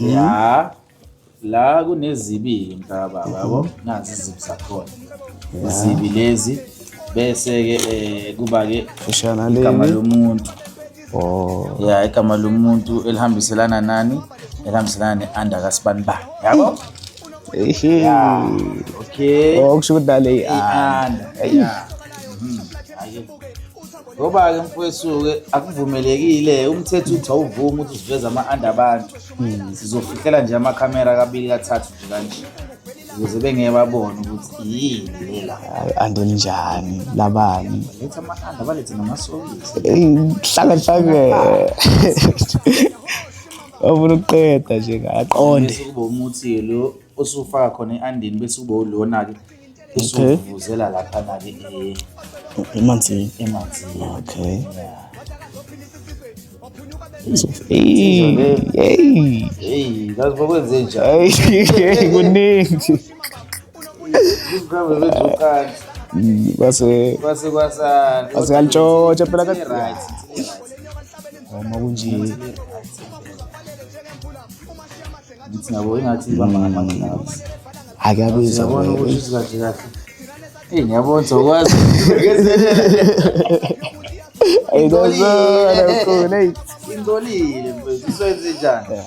ya la kunezibi mntaka baba yabo nazi izibi zakhona izibi lezi bese-ke um kuba-ke igama Ushanaleni. lomuntu Oh. ya igama lomuntu elihambiselana nani elihambiselana ne-under kasibanibani yabo Ehe. okay Oh, kusho ukuthi nale i-under ya Mhm. Ake- ngoba-ke mfowethu-ke akuvumelekile umthetho uthi awuvumi ukuthi siveze ama-anda abantu hmm. sizofihlela nje amakhamera kabili kathathu nje kanje ukuze bengeke babone ukuthi yini lela andonjani labani letha ama-anda balethe namasokisi hlala hlake ofuna ukuqeda nje ngaqonde kuba umuthi lo osufaka khona i-andini bese kuba ulona-ke usuvuzela lapha nake emanzini emanzini okay kuningi basekalitshotsha phela noma kunje ngithi nabo ingathi ibamba ngamanye ngathi ake abiza yabona ukuthi kahle kahle eyi ngiyabona sokwazi ingcolile mfethu isoyenze njani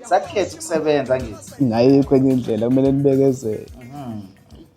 sakukhetha ukusebenza ngithi ngayikho enye indlela kumele nibekezele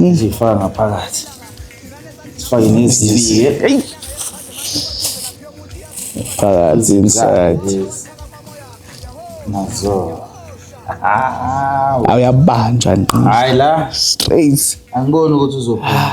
Ngizifaka ngaphakathi. Sifake nezibike. Eyi. Phakathi inside. Nazo. Awuyabanjwa nqo. Hayi la. Straight. Angiboni ukuthi uzophuza.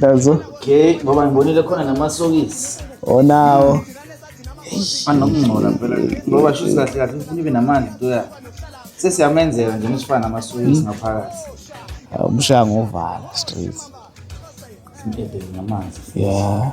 yazo okay ngoba ngibonile khona namasokisi onawo anokungcola phela ngoba shuthi kahle kahle ufuna ibe namandla into yakhe sesiyamenzela nje ngisifana namasokisi hmm. ngaphakathi umshaya ngovala straight namanzi yeah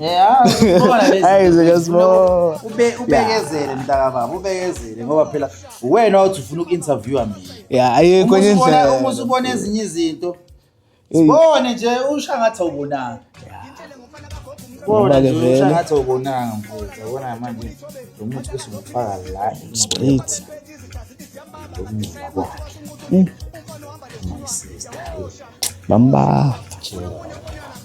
Yeah, Hayi zikasmo. ube ubekezele mntaka baba ubekezele ngoba phela uwena othi ufuna uku-interviewer mina Yeah, ayikho Uma enye usubona- uma indlela. usubona ezinye izinto Eyi. sibone nje usha ngathi awubonanga Ngoba bona ke nje usha vele. ngathi awubonanga mfowethu yabona manje lo muthi bese ngifaka la Straight. ukungcola kwakhe Mm. my sister Bamba. Jehova.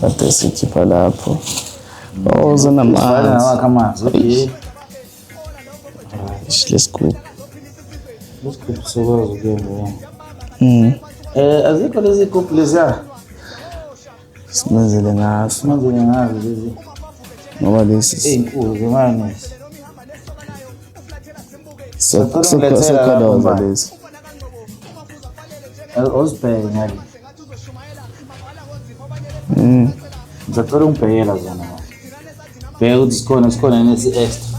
Kade sikhipha lapho. Oh, zinamanzi. Lesigubhu. Lesigubhu sokwazi ukuyena. Mm. Eh, azikho lezi gubhu leziya. Simenzele ngaso. Simenzele ngazo lezi. Ngoba lesi ezinkulu zemane. So so so kodwa lesi. Ozibheke ngale. Mm. Ngicela ungibhekela zona. Bheka ukuthi sikhona sikhona nesi extra.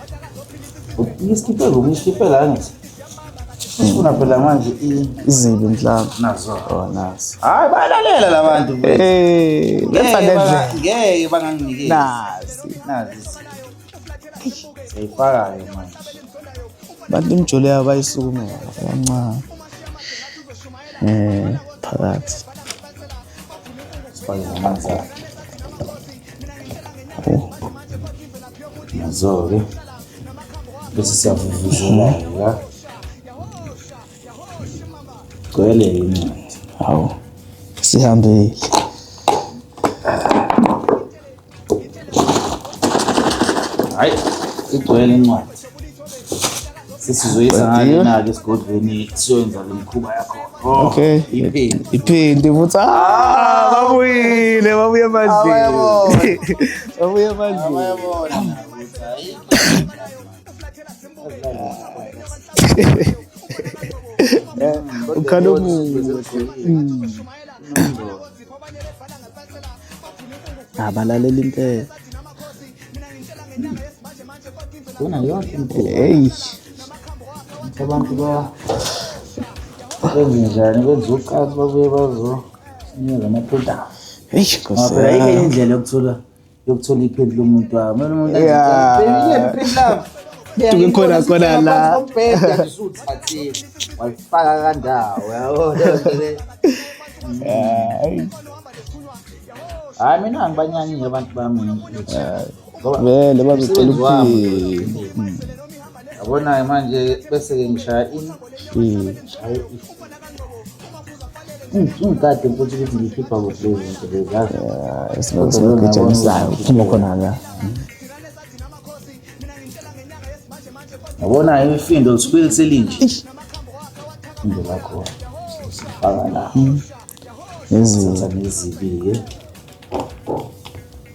Ngiskiphe ngoku ngiskiphe la ngithi. Sifuna phela manje i- izibi mhlawumbe nazo. oh nazi Hayi bayalalela labantu. eh letha Ngeke banga- ngendlela Ngeke banganginikeli. nazi Nazi. Seyifakayo manje. abantu imjolo yabo bayisukumela kancane eh phakathi Sifake amanzi akhe. Nazo-ke bese siyavuvuzela la gcwele incwadi hawu sihambile hayi igcwele incwadi sesizoyizanake esigodlweni siyoyenza le mikhuba yakho oh, okay iphindi futhi ah, ah, babuyile babuye emandleni babuye emandleni ukhala omuhle abalaleli impela Bona yonke imikhuba. Hey. Abantu ba benze njani benze uqathi babuye bazo sinikeza amaphuthazi. Hey, Ngoba phela ayikho enye indlela yokuthola yokuthola iphedi lomuntu wakho. Kumele umuntu Yeah. Tuke khona khona la. usuthathile. Wayifaka kandawo yabo. Hayi mina angibanyanyile abantu bami. vele bazocela ukuphila yabonayo manje bese-ke ngishaya ini shaye ngikade mfuthi ukuthi ngikhipha kuhle izinto lezazi esibagijanisayo phuma khona la yabona imifindo lisibili selinje ifindo lakho sifaka la hmm. nezinto nezibi-ke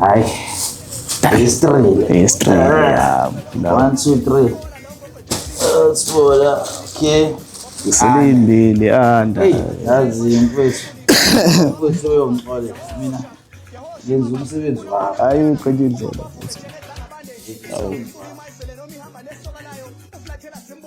Ay. History. History. Yeah. No. One, two, three. Let's go. Okay. Isilindile anda. Hey, yazi mfethu. Mfethu uyongixolela mina. Yenza umsebenzi wakho. Hayi uqede indlela futhi. Awu.